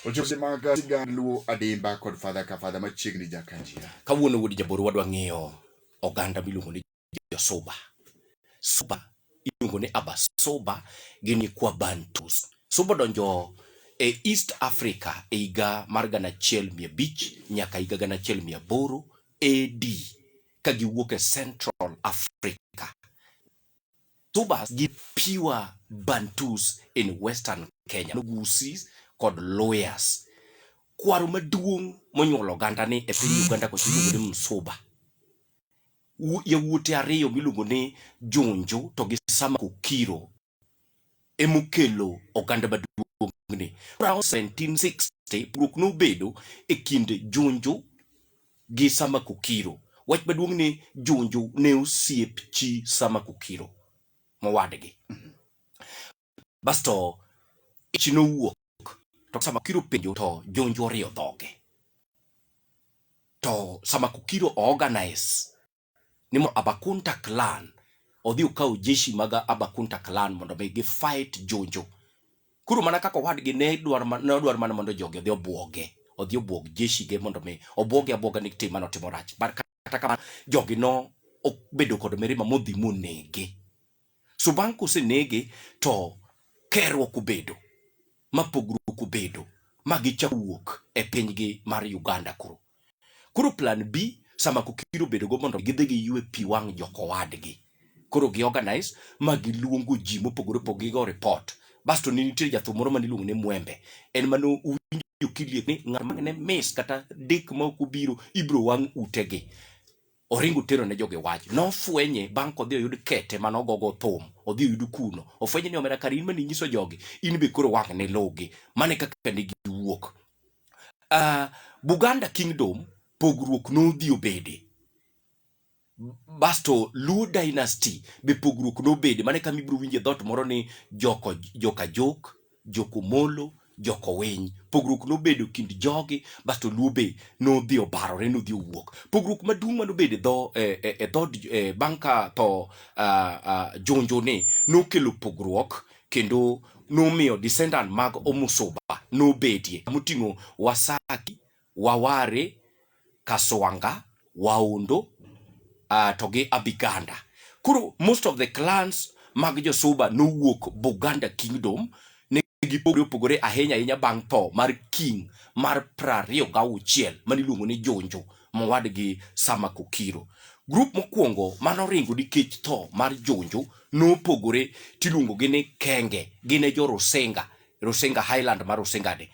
Ojose mag sigand Luo adimba kod fadha ka fadha machiegni Jakanjia. Kawuono wuod jaboro wadwa ng'iyo oganda miluongo ni Josuba. Suba iluongo ni Abasuba gin nyikwa Bantus. Suba odonjo e East Africa e higa mar gana achiel mia abich nyaka higa gana achiel mia aboro AD ka giwuok e Central Africa. Tubas gi pure Bantus in Western Kenya, Nugusis kod Luyas. Kwaro maduong' monyuolo oganda ni e piny Uganda kocha iluongo ni Msuba. Yawuote ariyo miluongo ni Junju to gi Sama Kukiro emokelo oganda maduong'ni. Around 1760 pogruok nobedo e kind Junju gi Sama Kukiro. Wach maduong' ni Junju ne osiep chi Sama Kukiro mowadgi. Basto ich nowuok to Sama Kukiro penjo to Junju oriyo dhoge. To Sama Kukiro organize ni mo Abakunta clan odhi okaw jeshi mag Abakunta clan mondo mi gi fight Jonjo. Koro mana kaka owadgi ne dwar ne odwar mana mondo jogi odhi obwoge, odhi obwog jeshi ge mondo mi obwoge abwoga ni tim mano timo rach. But kata kamano jogi no obedo kod mirima modhi monege. So bang' kosenege to kerruok obedo, ma pogruok obedo, ma gichako wuok e pinygi mar Uganda koro. Koro plan B sama kokir obedo go mondo gidhi giywe pi wang' jokowadgi. Koro gi organize ma giluongo ji mopogore opogore gigo report. Basto ne nitie jathum moro mane iluongo ni Mwembe. En mane owinjo kiliek ni ng'at mane miss kata dek ma ok obiro ibiro wang' utegi. oringo otero ne jogi wach nofwenye bang' kodhi oyud kete mane ogogo thum odhi oyud kuno ofwenye ni omera kar in mane inyiso jogi in be koro wang' ne lugi mane kaka ne giwuok uh, buganda kingdom pogruok nodhi obede basto luo dynasty be pogruok nobede mane kama ibiro winje dhot moro ni joko joka jok jokomolo jokowiny pogruok nobedo kind jogi basto luo be nodhi obarore nodhi owuok pogruok maduong' manobedo e dho e, e, e dhod e, bang' ka tho ah, ah, jonjo ni nokelo pogruok kendo nomiyo descendant mag omusuba nobedie moting'o wasaki Waware, Kaswanga, Waondo, uh, to gi Abiganda. Koro most of the clans mag Josuba nowuok Buganda Kingdom ne gipogore opogore ahinya ahinya bang' tho mar king mar prariyo gauchiel mane iluongo ni Jonjo mowadgi Sama Kokiro. Grup mokwongo mane oringo nikech tho mar Jonjo nopogore tiluongogi ni Kenge, gin e jo Rusinga Rusinga Highland ma Rusingani.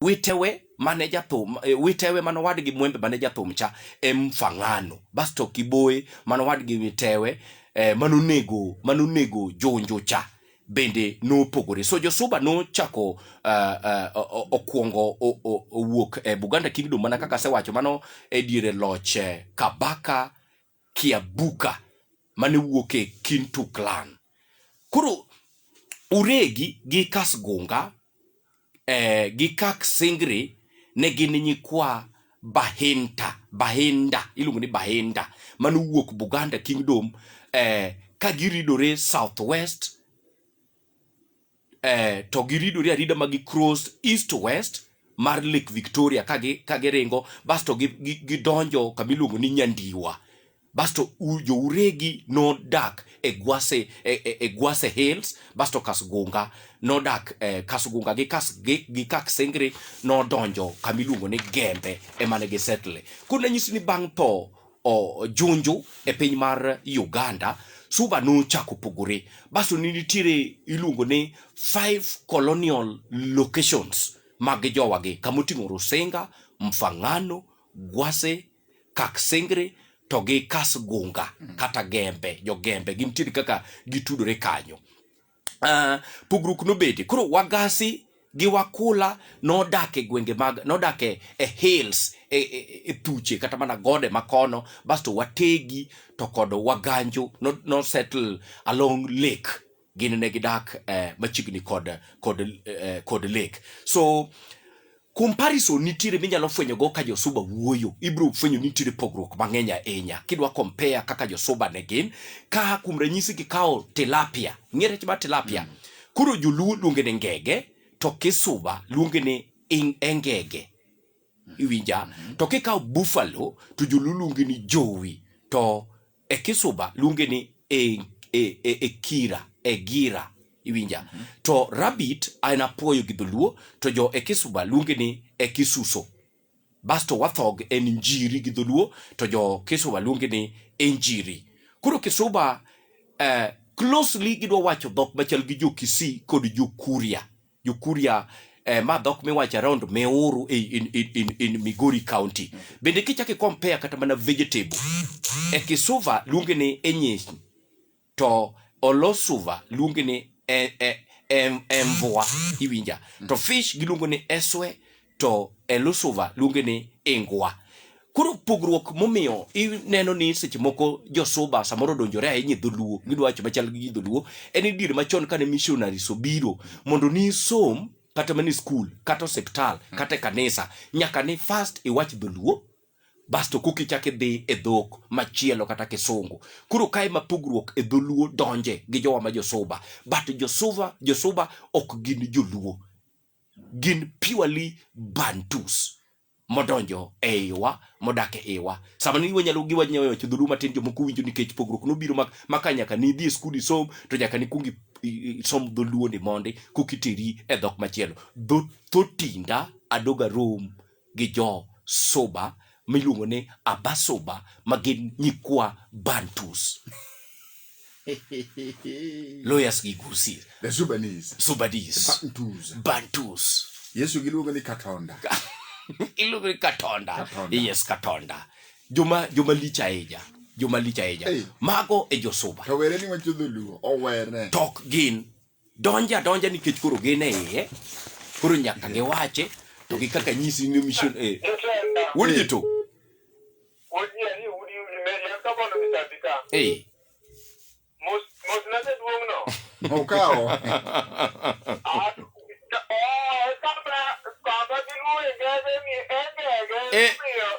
Witewe mane jathum e, witewe mano wadgi mwembe mane jathum cha em fangano basto kiboe mano wadgi witewe e, mano nego mano nego jonjo cha bende nopogore so josuba nochako uh, uh, okuongo owuok e Buganda Kingdom mana kaka asewacho mano e diere loch eh, Kabaka Kiabuka mane wuok e Kintu clan. Koro Uregi gi Kasgunga eh, gi Kak Singri ne gin nyikwa Bahinta, Bahinda, iluongo ni Bahinda mane owuok Buganda Kingdom eh, ka giridore south west eh, to giridore arida ma gi cross east to west mar Lake Victoria ka gi ka giringo basto gi- gi- gidonjo kama iluongo ni Nyandiwa basto u- jouregi nodak e Gwase e, e, e Gwase Hills basto Kasgunga nodak eh, Kasgunga gi kas gi, gi Kaksengre nodonjo kama iluongo ni Gembe ema ne gisettle. Koro nanyisi ni bang' tho o, Junju e piny mar Uganda, Suba nochako pogore. Basto ne nitiere iluongo ni five colonial locations mag jowagi, kama oting'o Rusinga, Mfangano, Gwase, Kaksingri to gi Kasgunga kata Gembe, jo Gembe gintiere kaka gitudore kanyo. uh, pogruok nobede koro wagasi gi wakula nodak e gwenge mag nodak e, e hills e, e, e thuche kata mana gode makono basto wategi to kod waganjo no, no settle along lake gin ne gidak eh, machiegni kod kod eh, kod lake so Comparison nitiere minyalo fwenyo go ka josuba wuoyo, ibro fwenyo ni nitiere pogruok mang'eny ahinya kidwa compare kaka josuba ne gin. Ka kuom ranyisi kikawo tilapia, ing'e rech mar tilapia? Mm. Koro joluo luonge ni ngege, to kisuba luonge ni engege. Iwinja? Mm-hmm. To kikawo buffalo, to joluo luonge ni jowi, to e kisuba luonge ni e, e, e, e kira e gira iwinja mm -hmm. to rabbit an apuoyo gi dholuo to jo e kisuba luonge ni e kisuso basto wathog en njiri gi dholuo to jo kisuba luonge ni e njiri koro kisuba eh, closely gidwa wacho dhok machal gi jo kisii kod jo kuria Jokuria eh, ma dhok miwacho around Meuru in, in, in, in, in Migori County. Bende kichako i compare kata mana vegetable e Kisuva luonge ni Enyish to Olosuva luonge ni e, e, em, Emvua iwinja to fish giluongo ni Eswe to e Lusuva luonge ni Ingwa. Koro pogruok momiyo ineno ni seche moko josuba samoro donjore ahinya e dholuo gidwa wacho machal gi dholuo en ni diere machon kane missionaries obiro mondo nisom kata mana e skul kata osiptal kata e kanisa nyaka ni first iwach dholuo basto koki chak idhi e dhok machielo kata kisungu koro kae ma pogruok e dholuo donje gi jowa ma josuba but josuba josuba ok gin joluo gin purely bantus modonjo e iwa modak e iwa sama ni wanyalo gi wanyalo wacho dhulu matin jomoko winjo nikech pogruok nobiro mak maka nyaka ni dhi e skul isom to nyaka ni kuongi isom dholuo ni mondi kokiteri e dhok machielo dho thotinda adoga rom gi jo Suba miluongo ni Abasuba ma gin nyikwa Bantus. Lawyers gi Gusii. The Sudanese. Sudanese. Bantus. Bantus. Yesu giluongo ni Katonda. Iluongo ni Katonda. Katonda. Yes, Katonda. Joma joma lich ahinya. Joma lich ahinya. Hey. Mago e jo Suba. To were ni wacho dholuo. Owere. Tok gin donjo adonja nikech koro gin e iye koro nyaka giwache to gi kaka nyisi ni mission eh wuod ji to eh okawo eh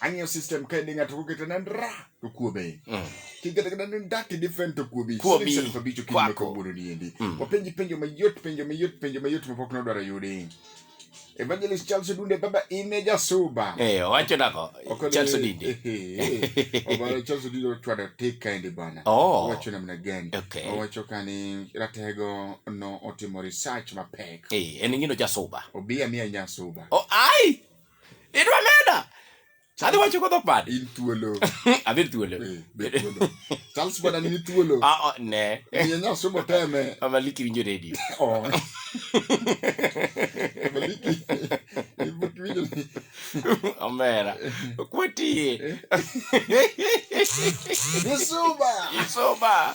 ang'iyo system ka idhi ng'ato kokete na ndra to kuobe mm. kikete kata ni ndaki different to kuobi kuobi sasa kwa bicho kinyo kwa buru ni endi mm. wapenji penjo mayot penjo mayot penjo mayot mapok na dwara yudi Evangelist Charles Dunde baba ine jasuba. Eh, wacho nako. Charles Dunde. Eh, eh, eh. Obaro Charles Dunde watu adatika endi bana. Oh. Wacho namna gani? Okay. Wacho kani ratego no otimo research mapek. Eh, eningino jasuba. Obia mia nyasuba. Oh, ai! Idwa meda. Adhi wacho kodho pad. In thuolo. Adhi thuolo. Eh, be thuolo. Charles bwana ni thuolo. Ah, oh, ne. Ni nya somo teme. Amaliki winjo radio. Oh. Amaliki. Ibuki winjo. Omera. Kwati. Yesuba. Yesuba.